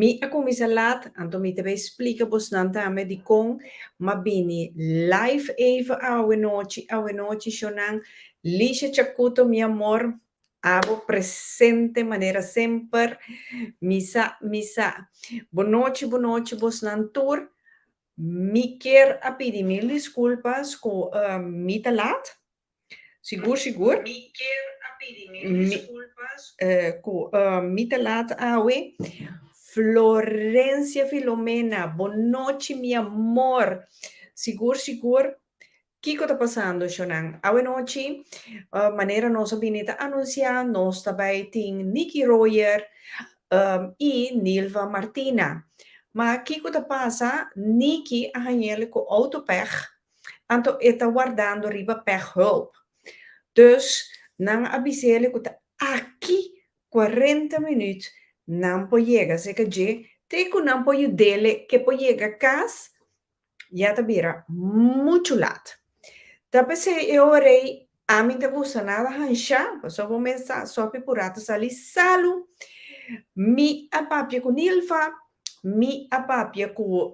Mi a cuminsa laat, anto mi ta bay splica bos nan tambe di con m'a bini live even awe nochi, awe nochi sho nan, Lisha Chacuto mi amor, abo presente manera semper, mi sa, mi sa, bo nochi, bo nochi bos nan tur, mi kier a pidi mil disculpas cu mi ta laat. Sigur sigur mi ku mi ta lat awe. Florencia Filomena Bon nochi mi amor sigur sigur kiko ta pasando shonan awe nochi manera nos a bini ta anuncia nos ta bai tin Nicky Royer y Nilva Martina ma kiko ta pasa Nicky a hañel ku auto pech Anto e ta wardando riba pechhulp. Dus nan a bisa ele ku ta aki kuarenta minüt nan por yega serka dje te ku nan por yud'ele ke por yega kas, ya ta bira muchu lat. Ta pesei e ora ei ami ta gusta nada hanshá, pasobra bo mes sa Sophie Purá ta sali salu. Mi a papia ku Nilva, mi a papia ku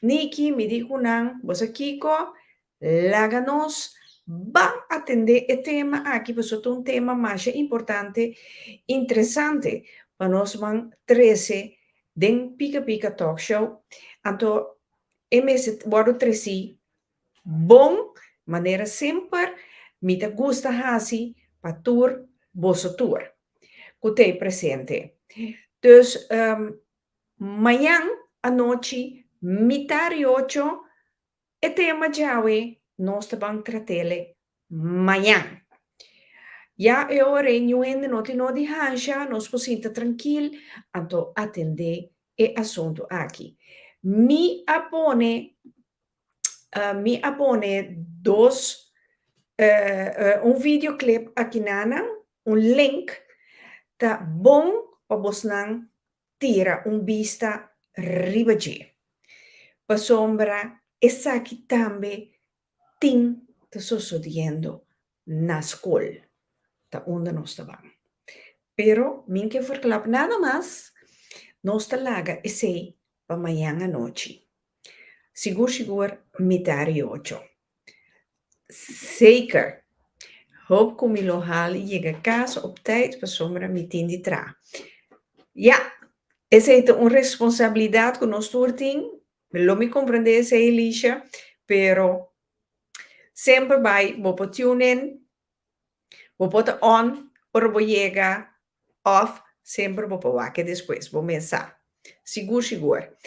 Nicky, mi di cu nan, bo sa kico? Laga nos ban atende e tema aki pasobra ta un tema masha importante, interesante pa nosman trece den Pika Pika Talk Show. Anto e mester wordo treci bon, manera semper mi ta gusta haci pa tur boso tur cu ta e presente. Dus Mañan anochi mita ri ocho e tema djawe nos ta ban tratele mañan. Ya e ora e ñu hende no tin nodi hansha, nos por sinta trankil anto atende e asuntu aki. Mi a pone. Mi a pone dos, un video clip akinanan, un link, ta bon pa bosnan tira un bista riba dje, pasobra esaki tambe tin ta sosodiendo Na skol ta unda nos ta ban. Pero mi n'ke verkla pa nada mas, nos ta laga esei pa mañan anochi. Sigur sigur mita di ocho. Seker. Hoop ku mi lo hal yega kas op tait pasobra mi tin di traha. Ya, esei ta un responsabilidat ku nos tur tin. Lo mi comprende esey Elisha, pero semper bay bo por tune in, bo por ta on ora bo yega of semper bo por wake despues, bo mes sa. Sigur sigur.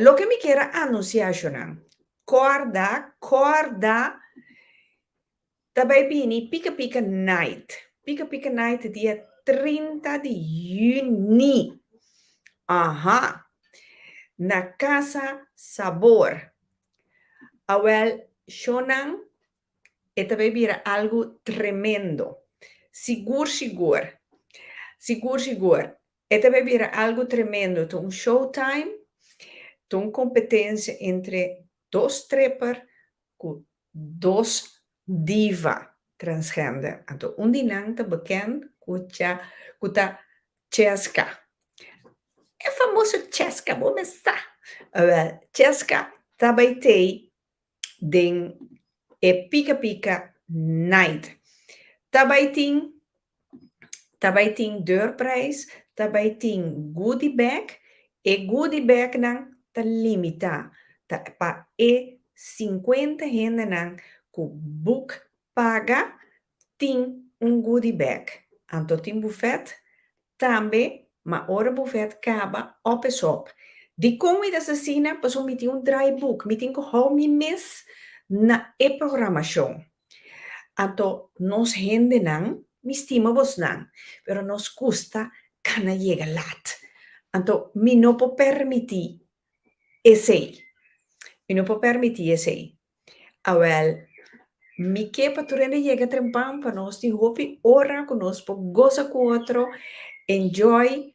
Loke mi kier a anuncia ashonan, corda, corda Ta bai bini Pika Pika Night. Pika Pika Night dia trinta di yüni. Aha! Na Casa Sabor. Awel, shownan e ta bai bira algu tremendo. Sigur sigur. Sigur sigur. E ta bai bira algu tremendo. Ta un showtime. Ta un competencia entre dos stripper cu Dos diva transgender anto un di nan ta bekend ku cha ku ta Cheska. E famoso Cheska bo mes sa. Awel Cheska ta bai tei den e pika pika night. Ta bai tin ta bai tin deur prijs, ta bai tin goodie bag, e goodie bag nan ta limita ta pa e cincuenta hendenan cu boek paga tin un goodie bag, anto tin buffet tambe ma ora buffet caba op es op. Dicon mi ta haci asina? Pasobra mi tin un draaiboek, mi tin cu hou mi mes na e programacion. Anto nos hendenan, mi stima bosnan, pero nos kusta kana yega lat. Anto mi no por permití esei. Mi no por permití esei. Awèl, mi ke pa tur hende yega trempan, pa nos tin hopi ora ku nos por gosa ku otro, enjoy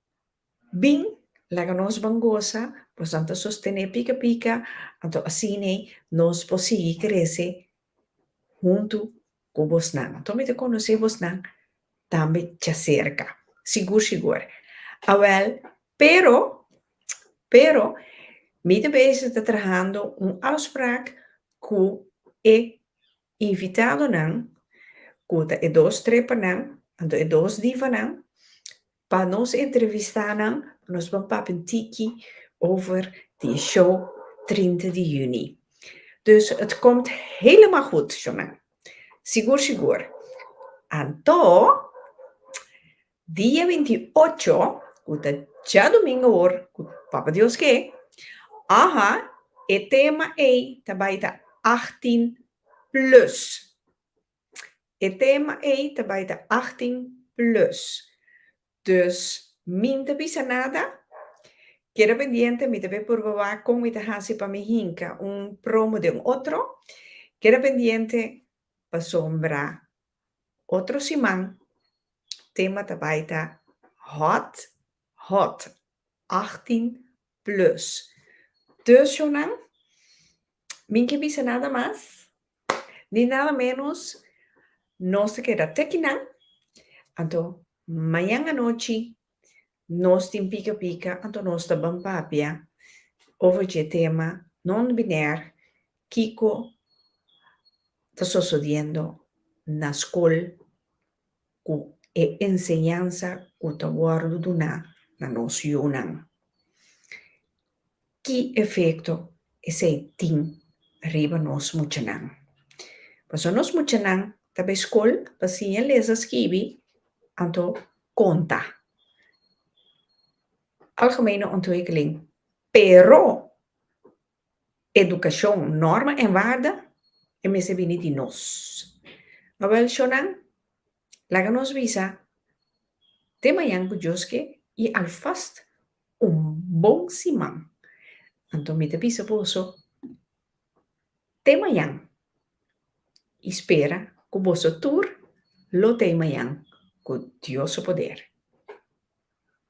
Bin, laga nos ban gosa, nos nan ta sostené pika pika, anto asine nos por sigui krese huntu ku bosnan. Anto mi ta konosé bosnan tambe djaserka, sigur sigur. Awèl, pero, pero, mi ta bese ta trahando un afsprak ku e invitadonan, ku ta e dos trepanan, anto e dos divanan, Pa nos entrevista nan nos ban papia un tiki over di e show trinta di juni. Dus et komt helemaal goed Jonan. Sigur sigur. Anto dia binti i ocho ku ta dja domingo hoor ku Papa Dios ke, aha e tema ei ta bai ta achtin plus. E tema ei ta bai ta achttien plus. Dus min ta bisa nada? Keda pendiente mi ta bai purba wak kon mi ta hasi pa mi hinka un promo den otro. Keda pendiente pasobra otro siman tema ta bai ta hot hot, achttien Plus. Deusionan, mi ke bisa nada mas ni nada menos, nos ta keda teki nan, anto mañan anochi nos tin pika pika, anto nos ta ban papia over dje tema non biner kiko ta sosodiendo na skol ku e enseñansa ku ta wòrdu duná na nos yunan? Ki efekto esei tin riba nos muchanan? Pasobra nos muchanan ta bai skol pa siña lesa skibi, anto konta. Algemeino anto e klen. Pero. Edukashon, norma en warda e mester bini di nos. Awel shonan, laga nos bisa te mañan ku Dios ke i alfast un bon siman. Anto mi ta bisa boso, te mañan i spera ku boso tur lo tei mañan ku Dios su poder.